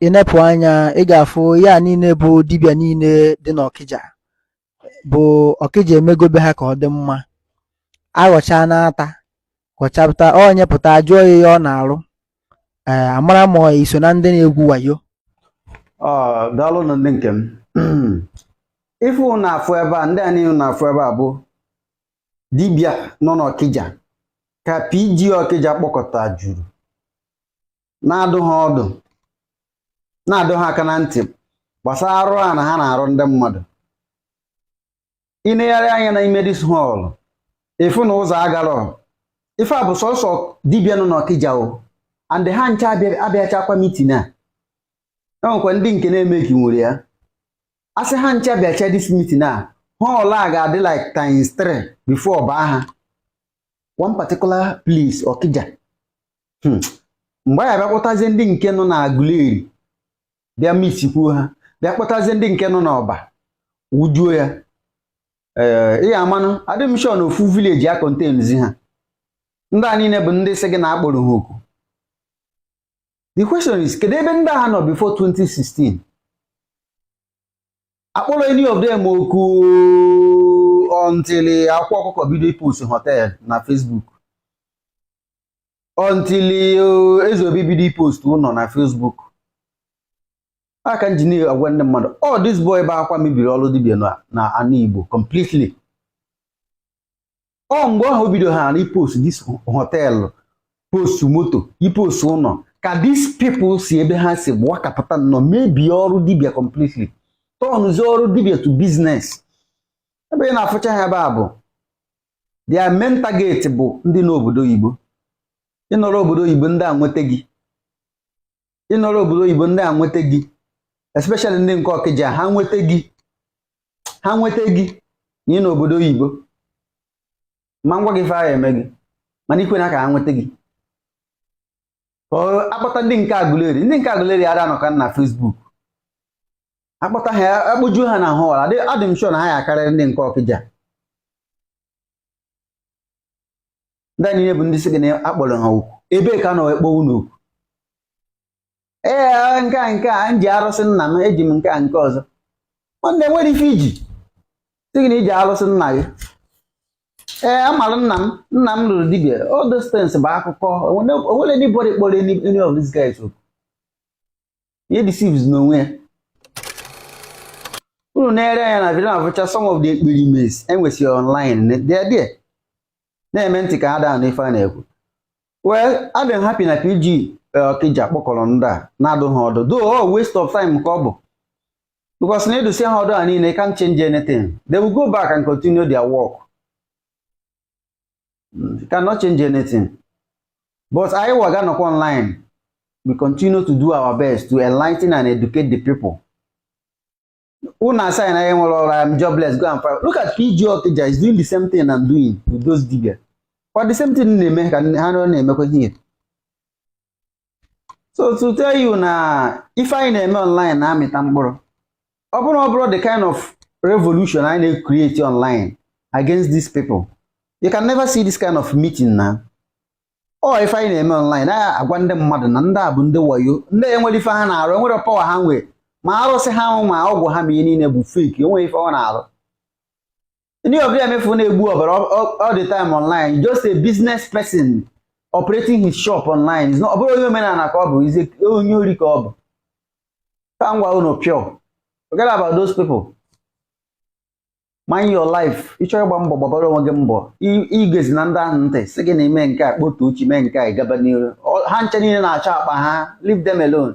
ị nepụ anya ị ga-afụ ya niile bụ dibịa niile dị n'Ọkịja bụ ọkịja emegobe ha ka ọ dị mma aghọchaa n'ata ghọchapụta onye pụta a jụọ ya ihe ọ na-arụ ee a mara ma i so na ndị na-egwu wayo Ah, daalụ nụ ndị nke m ife unu na-afụ ebe a ndị a niile unu na-afụ ebe a bụ dibịa nọ n'ọkịja ka PG ọkịja kpọkọta juru na-adụ ha ọdụ na-adụ ha aka na ntị gbasara arụ a na ha na-arụ ndị mmadụ ị negharị anya na ime dis hall efe na ụzọ agarọ ife a bụ sọsọ dibịa nọ n'ọkịja o and ha ncha abịachakwa mitin a e nwekwa ndị nke na-eme ka nwere ya a sị ha ncha bịacha dis mitin a hall a ga-adị like times 3 before ọ baa ha one particular place ọkịja hmm. mgbe a ya-abịa kpọtazie ndị nke nọ na Aguleri bịa miksikwuo ha bịa kpọtazie ndị nke nọ n'Ọba wụjuo ya ee eh, ihe amanụ adị m sure na ofu village ya-akọntenzi ha ndị a niile bụ ndị sị gị na a kpọrọ ha oku the question is kedu ebe ndị a nọ before 2016 a kpọrọ any of them oku until Akwa Ọkụkọ bido ipost hotel na Facebook until eh, eze obi bido ipost ụnọ na Facebook ya ka m ji na-agwa ndị mmadụ ọ oh, this boy bụ Akwa mebiri ọrụ dibịa na ana Igbo completely ọ oh, mgbe ahụ o bido ha na ipost dis hotel post moto ipost ụnọ ka dis people si ebe ha si wakapụta nnọọ mebie ọrụ dibịa completely tọnụzie ọrụ dibịa to business ebe ị na-afụcha ha ebe a bụ their main target bụ ndị nọ obodo oyibo ị nọrọ obodo oyibo ndị a nweta gị ị nọrọ obodo oyibo ndị a nweta gị especially ndị nke ọkịja ha nweta gị ha nweta gị na ị nọ obodo oyibo ma m gwa gị ife ha ya-eme gị mana ekwena ka ha nweta gị a kpọta ndị nke agụleri ndị nke agụleri ara anọka na Facebook a kpọta ha a kpọjuo ha na hall adị m sure na ha ya-akarịrị ndị nke ọkịja ndị niile bụ ndị sị gị na a kpọrọ ha oku ebee ka a nọ akpọ unu oku ee nke a nke a m ji arụsị nna m eji m nke a nke ọzọ nwanne nwere ife i ji sị gị na i ji arụsị nna gị ee a mara nna m nna m rụrụ dibịa all those things bụ akụkọ o nwere anybody kpọrọ any of these guys oku he deceives n'onwe ya unu na-ere anya na video na-afụcha some of the experiments e nwesịrị online they are there na-eme ntị ka ha ada anụ ife a na-ekwu well adị m happy na PG Okija kpọkọrọ ndị a na-adụ ha ọdụ though all waste of time ka ọ bụ because na ịdụsị ha ọdụ a niile can't change anything they will go back and continue their work you cannot change anything but anyịwa ga-anọkwa online we continue to do our best to enlighten and educate the people unu asị na anyị enwerọ ọrụ I'm jobless go and find look at PG Okija is doing the same thing I'm doing with those dibia kwa the same thing m na-eme ka ha na-emekwa here so to tell you na ife anyị na-eme online na-amịta mkpụrụ ọ bụrụ na ọ bụrọ the kind of revolution anyị na-create online against these people you can never see this kind of meeting na ọ ife anyị na-eme online na-agwa ndị mmadụ na ndị a bụ ndị wayo ndị a enwerọ ife ha na-arụ enwerọ power ha nwee ma arụsị ha nwe ma ọgwụ ha ma ihe niile bụ fake o nwerọ ife ọ na-arụ any of them ị fụ na-egbu ọbara all the time online just a business person operating his shop online ọ bụrọ onye omenala ka ọ bụ he's onye ori ka ọ bụ ka m gwa unu pure forget about those people mind your life ị chọrọ ịgba mbọ gbabara onwe gị mbọ egezina ndị ahụ ntị sị gị na i mee nke a kpọtụ chi mee nke a gaba n'iru ha ncha niile na-achọ akpa ha leave them alone